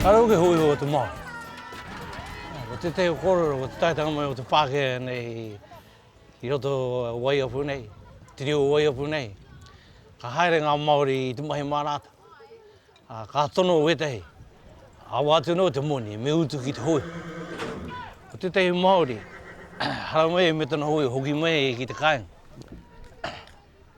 Kare o ke hui o te Māori. Ko tētahi o kōrero, ko te taetanga mai o te Pākehā nei i roto o Waiapu nei, te reo o Waiapu nei, ka haere ngā Māori i te mahi mā rātau. Ā, ka tono wētahi, Awa atu anō te moni, me utu ki te hoe. Ko tētahi Māori, haramai e me tana hoe hoki mai e ki te kāinga.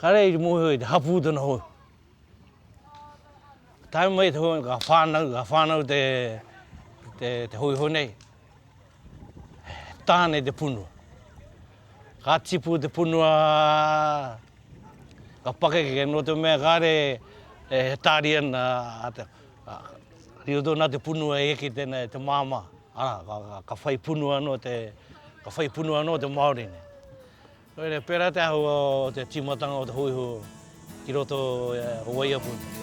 Kāre i te mōhio i te hapū tana hoe. Tae mai te hoe, ka whānau, ka whānau te, te, te hoe hoe nei. Tāne te punua. Ka tipu te punua Ka pakeke, nō te mea kāre e tāri ana a te, riro tonu nā te punua e eke tēnā e te māmā, arā, ka, ka, ka whai punua anō te, ka whai punua anō te Māori nei. Nō reira, pērā te āhua o te tīmatanga o te hōiho ki roto o Waiapu nei.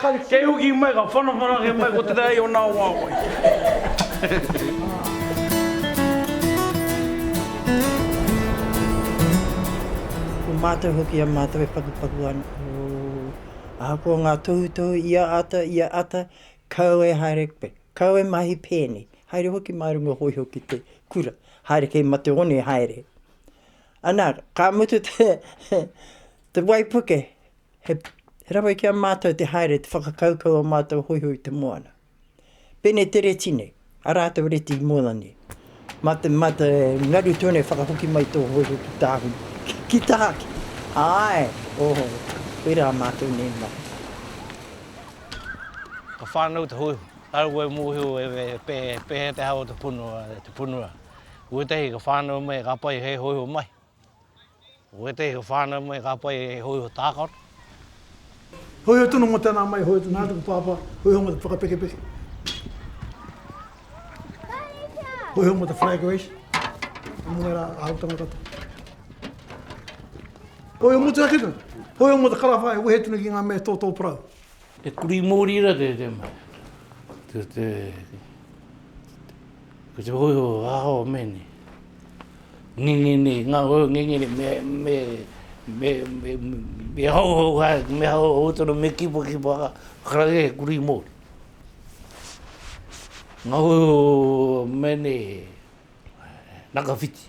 Kei hoki mai, ka whanawhanake mai ko te rā i ōna wāwae. Ko mātou hoki a mātou e pakupaku ana, ooh. Ahakoa ngā tohutohu i a ata, i a ata, kau e haere koe, kau e mahi pēnei, haere hoki mā runga hōiho ki te kura, haere kei mate one haere. Anā, ka mutu te waipuke, He rawe ki a mātou te haere te whakakaukau o mātou hoihoi te moana. Pene te reti nei, a rātou reti i moana nei. Ma te, ma te ngaru tonu e whakahoki mai tō hoihoi ki tāhuna, ki tāki. Āe, oho, koirā mātou nei mai. Ka whānau te hoihoi. Kaua e mōhio e pēhea te hao o te punua, te punua. Kotahi ka whānau mai, ka pai hei hoihoi mai. Ko ētehi o whānau mai ka pai he hōiho tākaro. Hōiho tonu mō tēnā mai, hōiho tonu, nā tuku pāpā, hōiho mō te whakapekepeke. Hōiho mō te flag race, mō ērā āhuatanga katoa. Hōiho mō te hake tonu, hōiho mō te karawha e wehe tonu ki ngā mea tōtō parau. He kurī mōri rā tētē mea. Ko te, ko te hōiho aho me ni. Ngenge ni, ngā hōiho ngenge ni, me, me, me, me, me hau hau hai, me hau hau tonu, me kipa kipa ha, karakia he kurī mōri. Ngā hōiho me ni, naka whiti.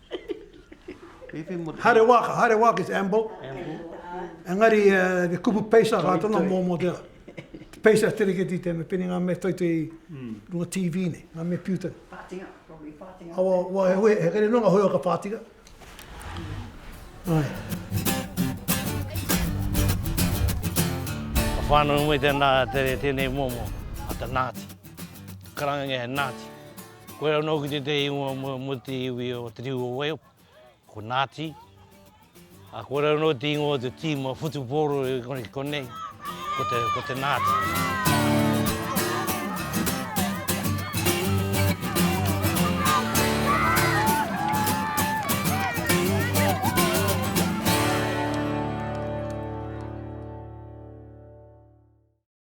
Haere wā, ka haere wā ki te Amble. Engari, he kupu peisa ka tana mō mō te peisa te riketi te me pene ngā mea toitoi i runga TV nei, ngā mea piu tonu. Whātinga, probably whātinga. Awa, wā, he hui, he kere nō ngā hui o ka whātinga. Ai. Ka whānau mai tēnā, tēnei mō mō, a te Nāti. Karanga nge he Nāti. Koe anō hoki tētehi ingoa mō te iwi o Te Riu o Waihopu, ko Nāti. Ā, koe anō te ingoa o te tīma whutupōro i konei, ko te, ko te Nāti.